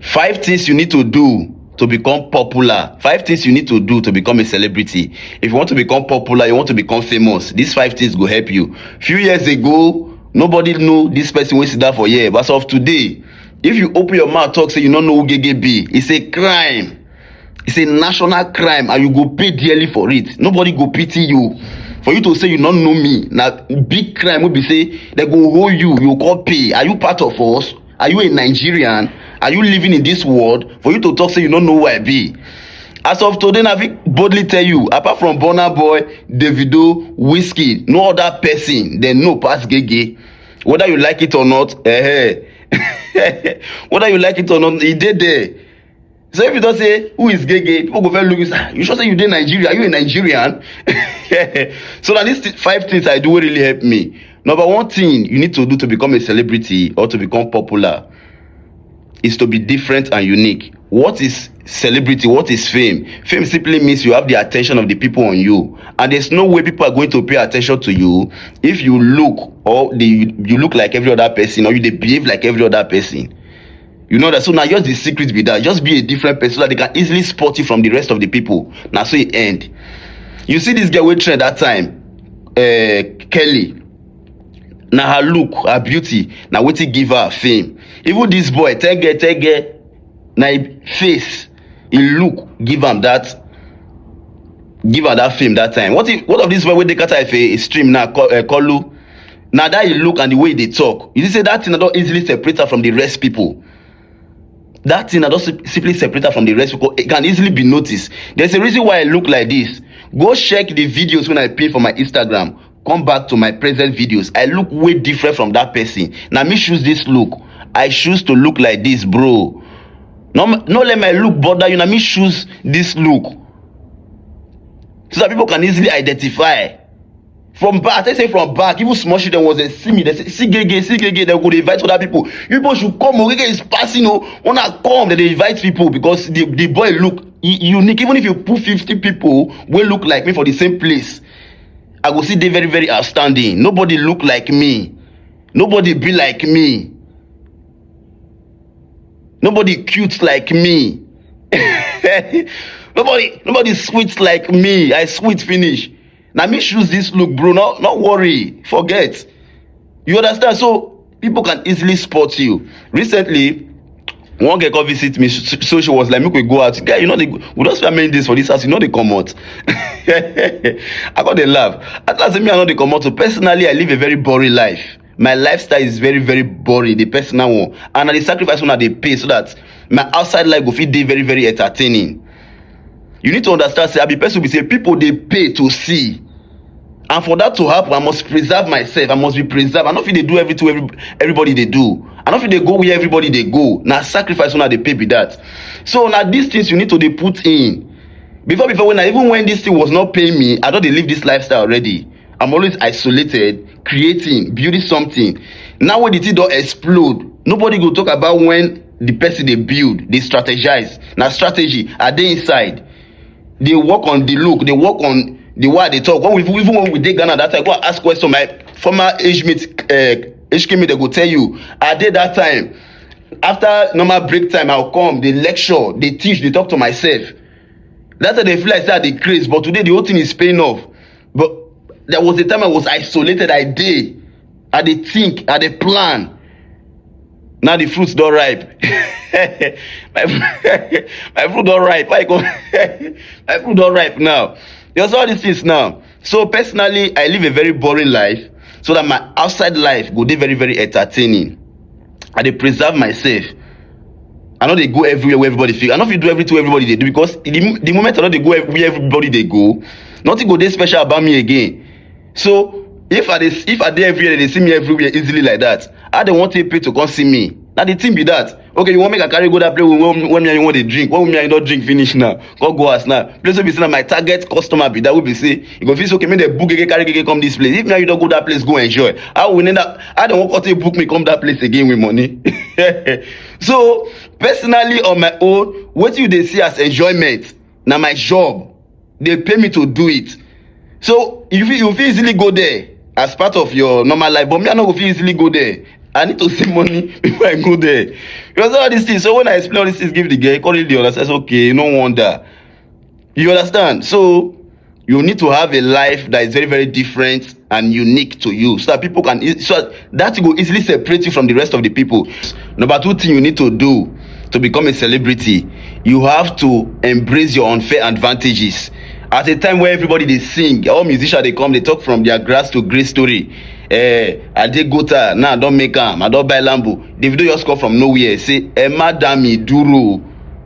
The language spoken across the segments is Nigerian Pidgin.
Five things you need to do to become popular. Five things you need to do to become a celebrity. If you want to become popular, you want to become famous. These five things go help you. Few years ago, nobody know this person wey sit down for here. But as of today, if you open your mouth talk say you no know who Gege be, it's a crime. It's a national crime and you go pay dearly for it. Nobody go pity you. For you to say you no know me, na big crime wey be say dem go hold you, you go come pay. Are you part of us? are you a nigerian are you living in this world for you to talk say you no know who i be as of today na fit boldly tell you apart from burna boy davido wizkid no other person dem know pass gege whether you like it or not eh, eh. whether you like it or not e dey there so if you don say who is gay gay people go first look you say ah, you sure say you dey nigeria are you a nigerian so na these five things i do wey really help me number one thing you need to do to become a celebrity or to become popular is to be different and unique what is celebrity what is fame fame simply means you have the attention of the people on you and there's no way people are going to pay attention to you if you look or they, you look like every other person or you dey behave like every other person You know that so now just the secret be that just be a different person so that they can easily spot you from the rest of the people. Now so it end. You see this girl wey trend that time, uh, Kelly. Now her look, her beauty, now wetin give her fame. Even this boy, tege tege, na him face he look give am that give am that fame that time what if what of this boy wey dey kata ife he stream now call uh, kolu na that he look and the way he dey talk you see say that thing na don easily separate am from the rest people that thing na don sim- simply separate am from the rest people it can easily be noticed there's a reason why i look like this go check the videos wey i pin for my instagram come back to my present videos i look way different from that person na me choose this look i choose to look like this bro no no let my look bother you na me choose this look so that people can easily identify from back i tell you say from back even small children was dey see me dey say see gege see gege dem go dey invite other people you people should come o gege is passing o una come dem dey invite people because the the boy look u- unique even if you put fifty people wey look like me for the same place i go still dey very very outstanding nobody look like me nobody be like me nobody cute like me nobody nobody sweet like me i sweet finish na me choose this look bro no no worry forget you understand so people can easily spot you recently one girl come visit me so so she was like make we go out guy you know the we don spend many days for this house you no dey comot i come dey laugh at last me i no dey comot so personally i live a very boring life my lifestyle is very very boring the personal one and na the sacrifice una dey pay so that my outside life go fit dey very very entertaining you need to understand say i be person be say people dey pay to see and for that to happen i must preserve myself i must be preserved i no fit dey do everything every, everybody dey do i no fit dey go where everybody dey go na sacrifice una dey pay be that so na these things you need to dey put in before before when i even when this thing was not paying me i don dey live this lifestyle already i'm always isolated creating building something now wey the thing don explode nobody go talk about when the person dey build dey strategize na strategy i dey inside dey work on the look dey work on the way i dey talk when we even when we dey ghana that time go and ask question my former age mate uh, hk mate dey go tell you i dey that time after normal break time i go come dey lecture dey teach dey talk to myself that time dey feel like say i dey craze but today the whole thing is paying off but there was a time i was isolated i dey i dey think i dey plan now the fruits don ripe my, my fruit don ripe i go my fruit don ripe now there's all these things now so personally i live a very boring life so that my outside life go dey very very entertaining i dey preserve myself i no dey go everywhere where everybody fit i no fit do everything everybody dey do because the, the moment i no dey go where everybody dey go nothing go dey special about me again so if i dey if i dey everywhere dem dey see me everywhere easily like that how dem wan take pay to come see me na the thing be that okay you wan make i carry go that place wey wey wey me and you wan dey drink wey me and you don drink finish now come go house now place wey be say na my target customer be that wey be say you go feel say okay make dem book gege carry gege come this place if me and you don go that place go enjoy how we need that how dem wan come take book me come that place again with money so personally on my own wetin you dey see as enjoyment na my job dey pay me to do it so you fit you fit easily go there as part of your normal life but me i no go fit easily go there i need to see money before i go there you understand all these things so when i explain all these things give the girl he come really dey understand say okay no wonder you understand so you need to have a life that is very very different and unique to you so that people can e- so that that thing go easily separate you from the rest of the people number two thing you need to do to become a celebrity you have to embrace your unfair advantages at a time where everybody dey sing all musicians dey come dey talk from their grass to grace story eh adegota now i don make am i don buy lambo davido just come from nowhere say emma dami duro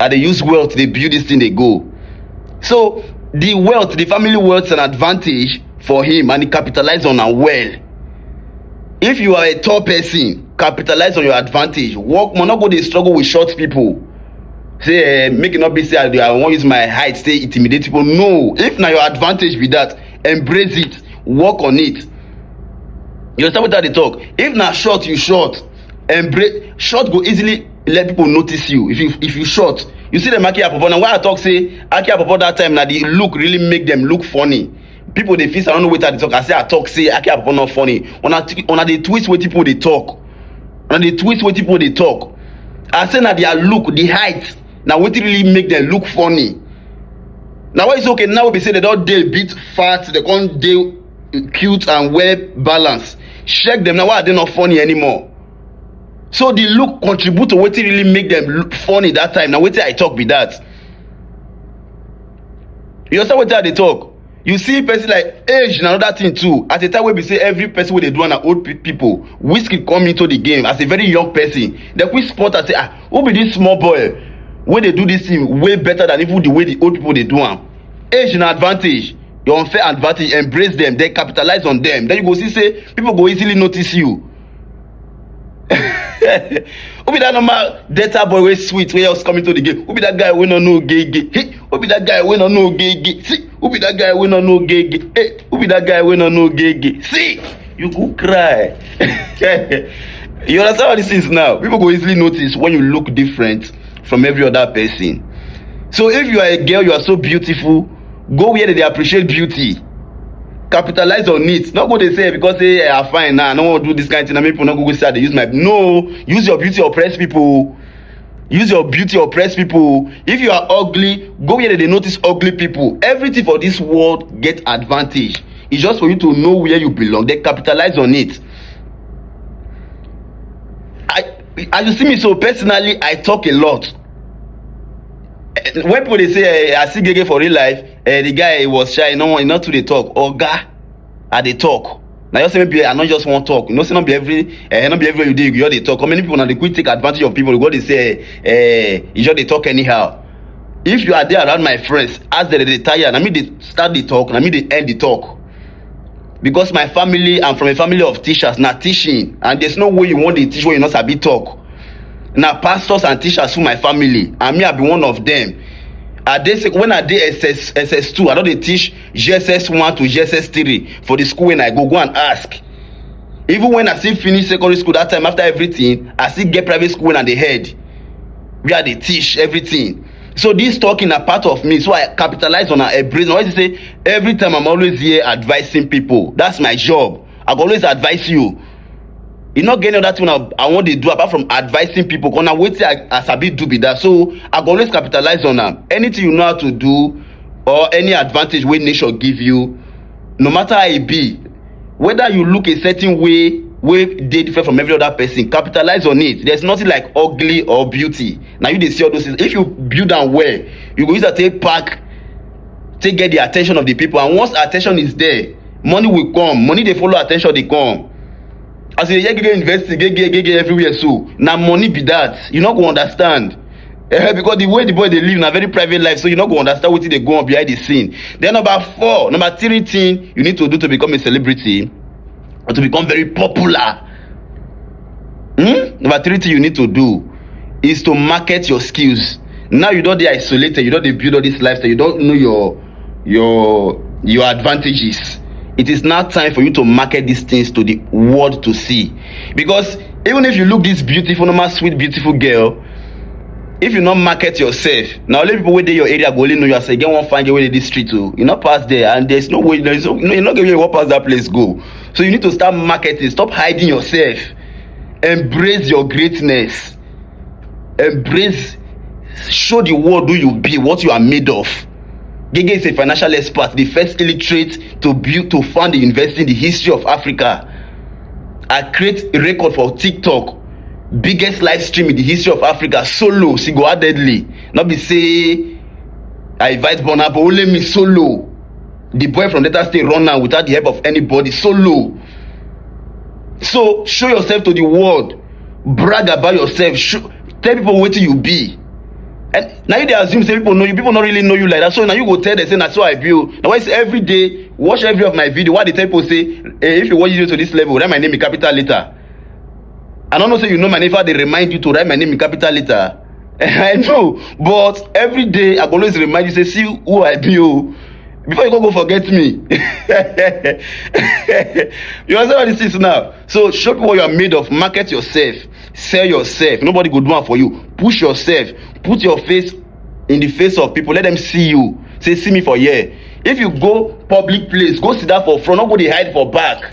i dey use wealth dey build this thing dey go so the wealth the family wealth and advantage for him and he capitalize on am well if you are a tall person capitalize on your advantage work more no go dey struggle with short people say eh make e no be say i dey i wan use my height take intimidate people no if na your advantage be that embrace it work on it you understand wetin i dey talk if na short you short embrace short go easily let people notice you if you if you short you see dem aki apopo na why i talk say aki apopo that time na the look really make dem look funny people dey feel say i no know wetin i dey talk i say i talk say aki apopo no funny una t- una dey twist wetin people dey talk una dey twist wetin people dey talk i say na their look the height na wetin really make dem look funny na why it's okay now wey be say dem don dey bit fat dem come dey cute and well balanced check dem na why i dey not funny anymore so the look contribute to wetin really make them funny that time na wetin i talk be that you understand wetin i dey talk you see person like age na another thing too at a time wey be say every person wey dey do am na old pe people whiskey come into the game as a very young person dem quick spot am say ah who be this small boy wey dey do this thing way better than even the way the old people dey do am age na advantage your unfair advantage embrace them then capitalize on them then you go see say people go easily notice you who be that normal data boy wey sweet wey just come into the game who be that guy wey no know gege hey who be that guy wey no know gege see who be that guy wey no know gege hey who be that guy wey no know gege see you go cry you understand all these things now people go easily notice when you look different from every other person so if you are a girl you are so beautiful go where they dey appreciate beauty capitalize on it no go dey say because say i am fine now i no wan do this kind thing na make people no go go say i dey use my no use your beauty oppress people use your beauty oppress people if you are ugly go where they dey notice ugly people everything for this world get advantage it's just for you to know where you belong then capitalize on it i as you see me so personally i talk a lot Eh, when people dey say eh, i see gege for real life eh, the guy he was shy he no wan he no too dey talk oga i dey talk na just say maybe i no just wan talk you know say no be every eh, no be everywhere you dey you go just dey talk how many people na dey quick take advantage of people you go dey say eh, eh, you just dey talk anyhow if you are there around my friends as dem dey tire na me dey start the talk na me dey end the talk because my family i'm from a family of teachers na teaching and there's no way you wan dey teach when you no sabi talk na pastors and teachers full my family and me i be one of them i dey sec when i dey ss ss two i don dey teach gss one to gss three for the school when i go go and ask even when i still finish secondary school that time after everything i still get private school when i dey head where i dey teach everything so this talking na part of me so i capitalize on her embrace always say every time i'm always here advising people that's my job i go always advise you e no get any other thing i, I wan dey do apart from advising people because na wetin i, I sabi do be that so i go always capitalize on am anything you know how to do or any advantage wey nature give you no matter how e be whether you look a certain way wey dey different from every other person capitalize on it there's nothing like ugly or beauty na you dey see all those things if you build am well you go use am take pack take get the attention of the people and once attention is there money will come money dey follow attention dey come as you dey hear gege university gege gege everywhere so na money be that you no go understand Eh, because the way the boy dey live na very private life so you no go understand wetin dey go on behind the scene then number four number three thing you need to do to become a celebrity or to become very popular hmm? number three thing you need to do is to market your skills now you don dey isolated you don dey build all this lifestyle you don know your your your advantages it is now time for you to market these things to the world to see because even if you look this beautiful normal sweet beautiful girl if you no market yourself na only people wey dey your area go only know you as e get one fine girl wey dey dis street o you no pass there and there is no way there is no you no get where you wan pass that place go so you need to start marketing stop hiding yourself embrace your greatness embrace show the world who you be what you are made of gege is a financial expert the first illiterate to build to found the university in the history of africa i create a record for tiktok biggest live stream in the history of africa solo single handedly no be say i invite burna but only me solo the boy from delta state run am without the help of anybody solo so show yourself to the world brag about yourself show tell people wetin you be and na you dey assume say people know you people no really know you like that so na you go tell them say na so i be o na why say every day watch every of my video why i dey tell people say eh if you watch video to this level write my name in capital letter I don't know say you know my name if I dey remind you to write my name in capital letter. I know but every day I go always remind you say see who I be o before you go go forget me. you understand all these things now so show people what you are made of market yourself sell yourself nobody go do am for you push yourself put your face in the face of people let them see you say see me for here if you go public place go sit down for front no go dey hide for back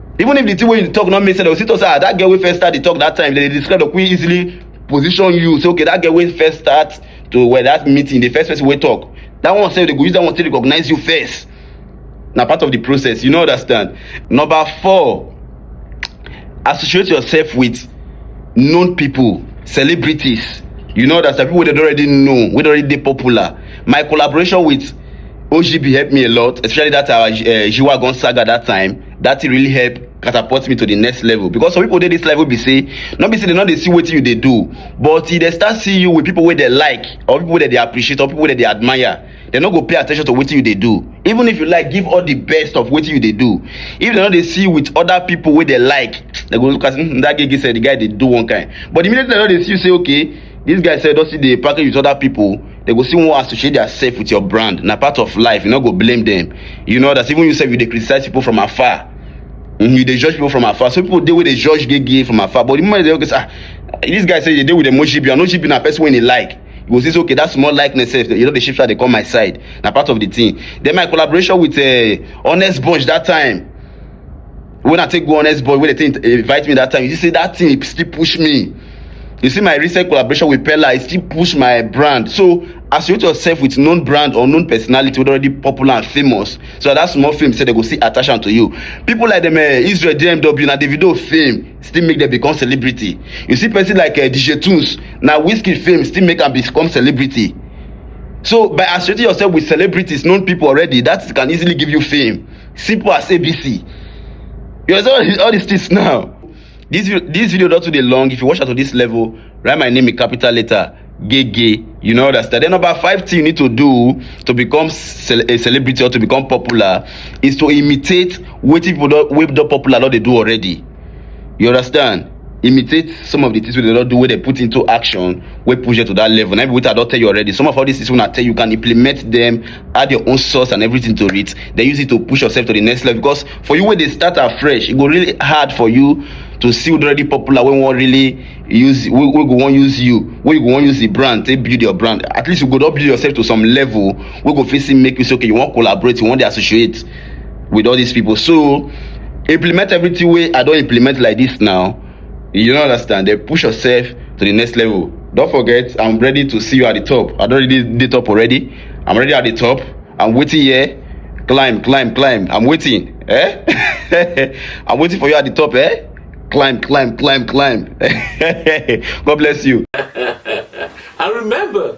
even if the thing wey you talk no make sense dem go still talk say ah that girl wey first start the talk that time dem dey describe dem quick easily position you say okay that girl wey first start to well that meeting the first person wey talk that one sef dem go use that one take recognize you first na part of the process you no understand number four associate yourself with known people celebrities you no understand people wey dem don already know wey don already dey popular my collaboration with ogb help me a lot especially that our uh, jiwa gonsaga that time that thing really help catapult me to the next level because some people dey this level be say no be say they no dey see wetin you dey do but e dey start see you with people wey dey like or people wey dey appreciate or people wey dey admire dem no go pay attention to wetin you dey do even if you like give all the best of wetin you dey do if dem no dey see you with other people wey dey like dem go look as mm, that gege sef the guy dey do one kind but immediately dem no dey see you say okay This guy sef don still dey package with other people. They go still wan associate theirself with your brand. Na part of life. You no go blame them. You know that even you sef you dey criticize people from afar. Mm, you dey judge people from afar. Some people dey wey dey judge gay gay from afar. But the moment they okay, say, ah, this guy say you dey with them Moshibi. I know Moshibi na person wey he like. You go see say okay, that small likeness sef. You know the shift dey come my side. Na part of the thing. Then my collaboration with uh, Honest Bunch that time. when i take go honest boy wey dey take invite me that time you see say that thing e still push me you see my recent collaboration with pella e still push my brand so associate yourself with known brand or known personality wey already popular and famous so that, that small fame say they go see attach am to you people like them uh, eh, israel dmw na davido fame still make them become celebrity you see person like uh, dj tunes na whiskey fame still make am become celebrity so by associating yourself with celebrities known people already that can easily give you fame simple as abc you understand all these all these things now this vi- this video don too dey long if you watch am to this level write my name in capital letter gege you no understand then number five thing you need to do to become cel a celebrity or to become popular is to imitate wetin people don wey don popular don dey do already you understand imitate some of di tins wey dem don do wey dem put into action wey push dem to dat level na im be wetin I don tell you already some of all dis tins wey una tell you can implement dem add your own source and everything to it then use it to push yourself to the next level because for you wey dey start afresh e go really hard for you to see who don already popular wey wan really use wey go wan use you wey you go wan use the brand take build your brand at least you go don build yourself to some level wey go fit still make you say okay you wan collaborate you wan dey associate with all these people so implement everything wey i don implement like this now you don't understand then push yourself to the next level don't forget i'm ready to see you at the top i don already dey top already i'm already at the top i'm waiting here climb climb climb i'm waiting eh i'm waiting for you at the top eh climb climb climb climb god bless you i remember